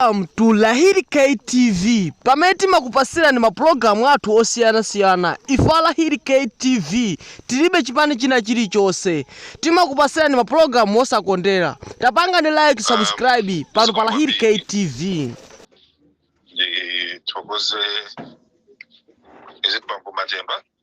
Welcome to Lahiri KTV pamene timakupasirani mapulogalamu athu osiyanasiyana ife a Lahiri KTV tilibe chipani china chilichonse timakupasirani mapulogalamu osakondera tapangani like subscribe pano pa Lahiri KTV ndithokoze azibambo matemba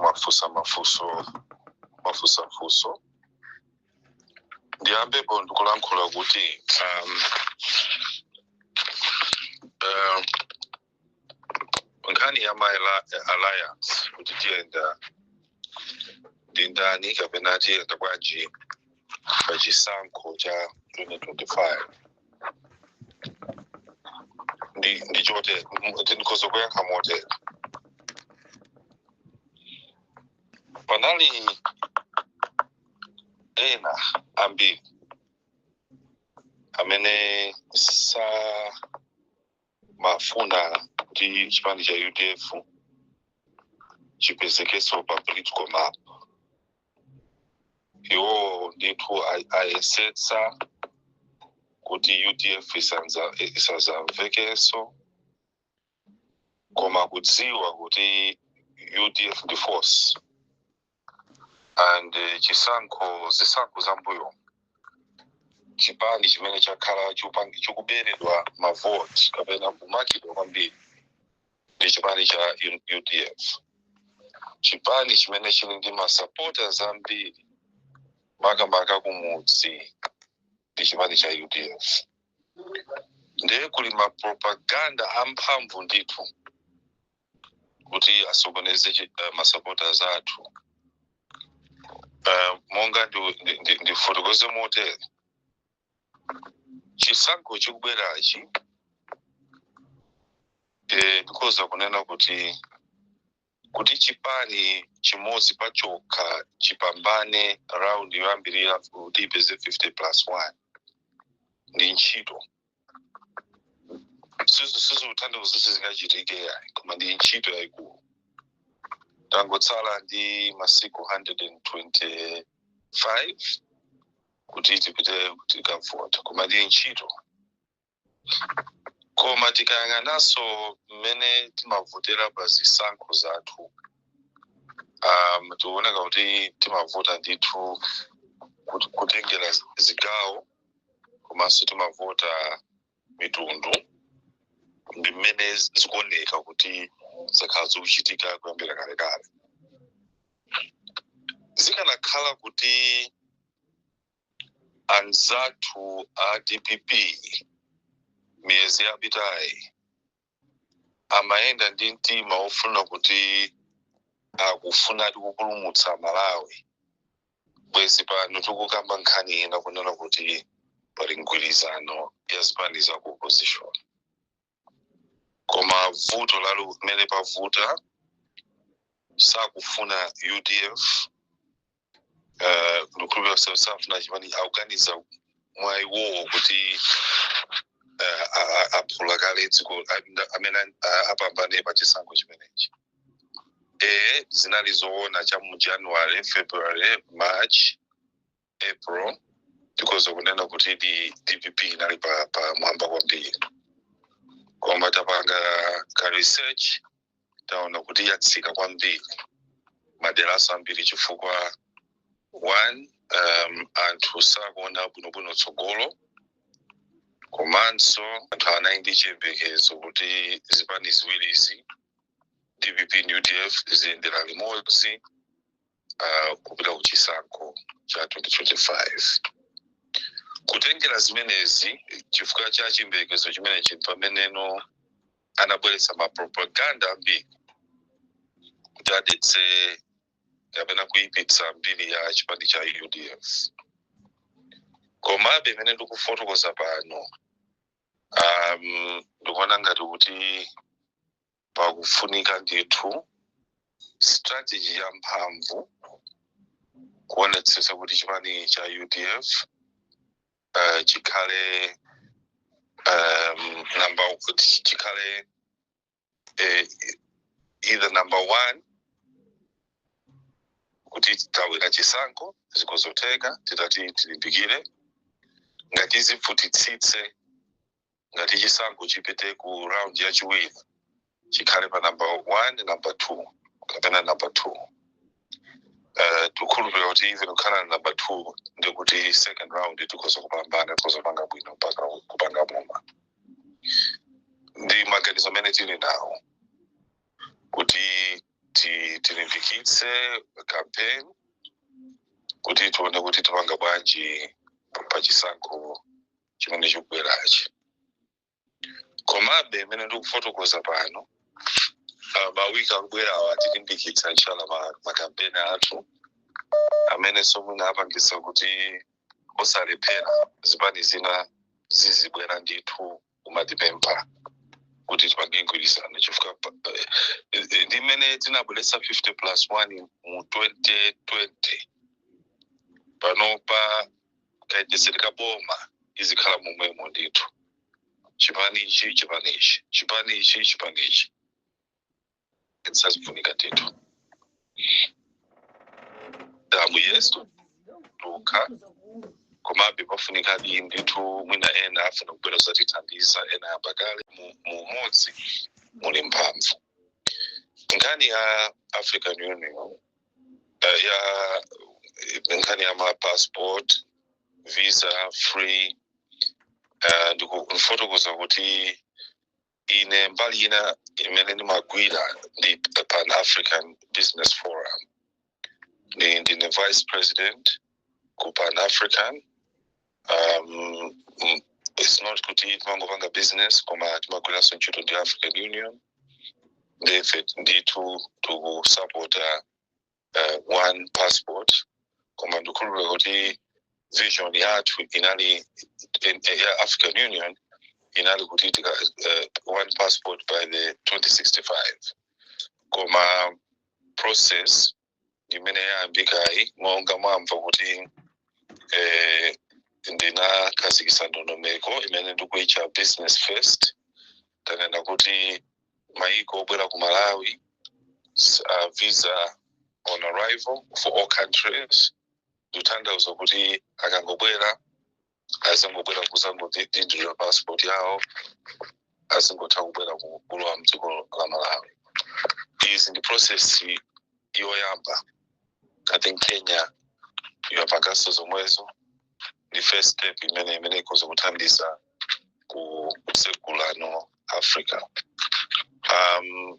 mwafusa mafuso mwafusa mafuso ndiyambepo ndikulankhula kuti um, um, nkhani ya ma alliance kuti tiyenda ndi ndani kapena tiyenda bwanji pa chisankho cha 2025 ndi ndi choti ndikhoza kuyankha motere panali ena ambiri amene amafuna kuti chipani cha udf chipezekenso pa political map iwo ndithu a- ayesetsa kuti udf isanza- isazamvekenso koma kudziwa kuti udf ndi force and eh, chisankho zisankho za mbuyo chipani chimene chakhala chikuberedwa mavoti kapena kumakidwa kwambiri ndi chipani cha U- udf chipani chimene chili ndi masupporters ambiri makamaka kumudzi ndi chipani cha udf ndiye kuli mapropaganda amphamvu ndithu kuti asokoneze chi- eh, masupporters athu Eh, monga ndifotokoze motere chisankho chikubwerachi eh, ndikhoza kunena kuti kuti chipani chimodzi pachokha chipambane raundi yoyambirira kuti ipeze 50 plus 1 ndi ntchito Sizi- sizikutanthauza kuti sizingachitike yayi koma ndi ntchito yayikulu tangotsala ndi masiku 125 kuti tipite tikavote koma ndi ntchito koma tikayang'ananso mmene timavotera pa zisankho zathu um, tikuoneka kuti timavota ndithu kut- kutengera zigawo komanso timavota mitundu ndi mmene zikuoneka kuti zakhala zikuchitika kuyambira kalekale zikanakhala kuti anzathu a dpp miyezi yapitayi amayenda ndi mtima wofuna kuti akufuna ati kupulumutsa malawi bwezi pano tikukamba nkhani ina kunena kuti pali mgwirizano ya zipani za ku opposition koma vuto lalo mmene pavuta sakufuna udf eh, ndikukhulupirira kuti safuna chipani akuganiza mwa iwowo kuti eh, a- a- aphula kale dziko a- nda- amene a- apambane pa chisankho chimenechi ee zinali zoona cha mu january february march april tikhoza kunena kuti dpp inali pa, pa mwamba kwambiri koma tapanga ka research taona kuti yatsika kwambiri maderanso ambiri chifukwa one um, anthu sakuona bwinobwino tsogolo komanso anthu anali ndi chiyembekezo kuti zipani ziwirizi dpp ndi udf ziyendera limodzi uh, kupita ku chisankho cha 2025 kutengera zimenezi chifukwa cha chiyembekezo chimenechi pameneno anabweretsa mapropaganda ambiri kuti adetse kapena kuipitsa mbiri ya chipani cha udf komabe mmene ndikufotokoza pano um, ndikuona ngati kuti pakufunika ndithu strategy ya mphamvu kuonetsetsa kuti chipani cha udf uh, chikhale um, number kuti chikhale eh, either number one kuti tawina chisankho zikhoza kutheka titati tilimbikire ngati zivutitsitse ngati chisankho chipite ku round yachiwiri chikhale pa number 1 number 2 kapena number 2 uh, tikhulupirira kuti even tikhala number 2 ndikuti second round tikhoza kupambana tikhoza kupanga bwino mpaka kupanga boma ndi maganizo amene tili nawo kuti ti- tilimbikitse campaign kuti tione kuti tipanga bwanji pa chisankho chimene chikubwerachi komabe imene ndikufotokoza pano ah, mawiki akubwerawa tilimbikitsa inshallah ma- makampeni athu amene somwina apangisa kuti osalephera zipani zina zizibwera ndithu kumatipempha kuti tipange mgwirizano chifukwa pa- eh, eh, ndi amene tinabweretsa 50 plus 1 mu 2020 panopa kayendetsedwe ka boma izikhala momwemo ndithu chipani ichi chipani ichi chipani ichi chipani ichi sizifunika ndithu damu yesu yekha komabe pafunikadi ndithu mwina ena afuna kubwera kuzatithandiza ena ayamba kale mu mu umodzi muli mphamvu nkhani ya african union uh, ya nkhani ya ma passport visa free uh, ndikufotokoza kuti ine mbali ina imene ndimagwira ndi pan african business forum ndi ndine vice president ku pan african um, mm, it's not kuti timangopanga business koma timagwiranso ntchito ndi african union ndife ndithu tikusupporta uh, one passport koma ndikhulupirira kuti vision yathu inali in- eh, ya african union inali kuti tika, uh, one passport by the 2065 koma process imene yayambikayi monga mwamva kuti eh, ndinakhazikitsa ndondomeko imene ndikuitcha business first tanena kuti maiko obwera ku malawi s- uh, visa on arrival for all countries ndikutanthauza kuti akangobwera azingobwera kuzangodinditsa passport yawo azingotha kubwera ku- kulowa mdziko la malawi izi ndi process yoyamba i think kenya yapanganso zomwezo ndi first step imene imene ikoza kuthandiza ku- kutsegulano africa um,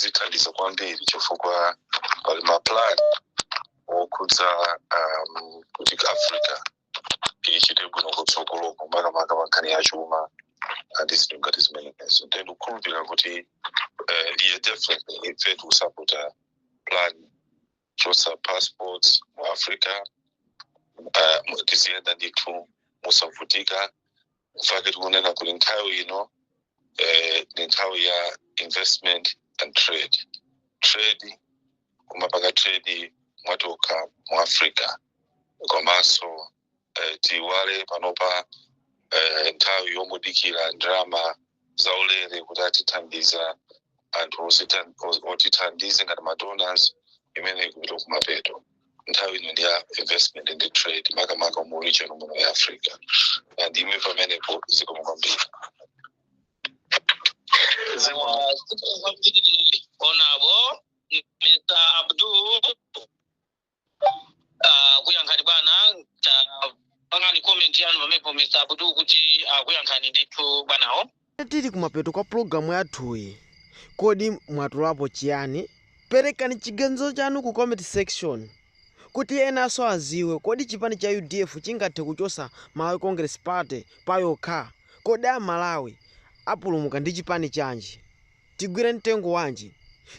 zithandiza kwambiri chifukwa pali maplan okhudza um, kuti africa ichite bwino kutsogoloko makamaka pankhani ya chuma ndi zinthu ngati zimenezo nde ndikukhulupirira kuti eh, ife definitely ife tikusapota plan kuchotsa passports mu africa uh, tiziyenda ndithu mosavutika mfake tikunena kuti nthawi ino eh, ni nthawi ya investment and trade trade kumapanga trade mwatokha mu africa komanso eh, tiiwale panopa eh, nthawi yongodikira ndalama zaulere kuti atithandiza anthu osita- os- otithandize ngati madonors imene ikupita kumapeto nthawi ino ndi ya investment and trade makamaka mu region muno ya africa ndiime pamenepo zikomo kwambiri honorable mr abdul Ah, kuyankhani bwana ta- pangani comment yanu pamenepo mr abdul kuti akuyankhani ndithu bwanawo tili kumapeto kwa pulogalamu yathuyi kodi mwatolapo chiyani perekani chiganizo chanu ku comment section kuti enanso aziwe kodi chipani cha udf chingathe kuchosa malawi congress party pachokha kodi amalawi apulumuka ndi chipani chanji Tigwire mtengo wanji?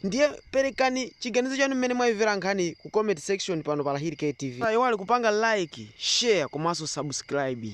Ndiye perekani chiganizo chanu mmene mwaimvera nkhaniyi ku comment section pano pa Lahiri K TV. Musaiwale kupanga like, share komanso subscribe.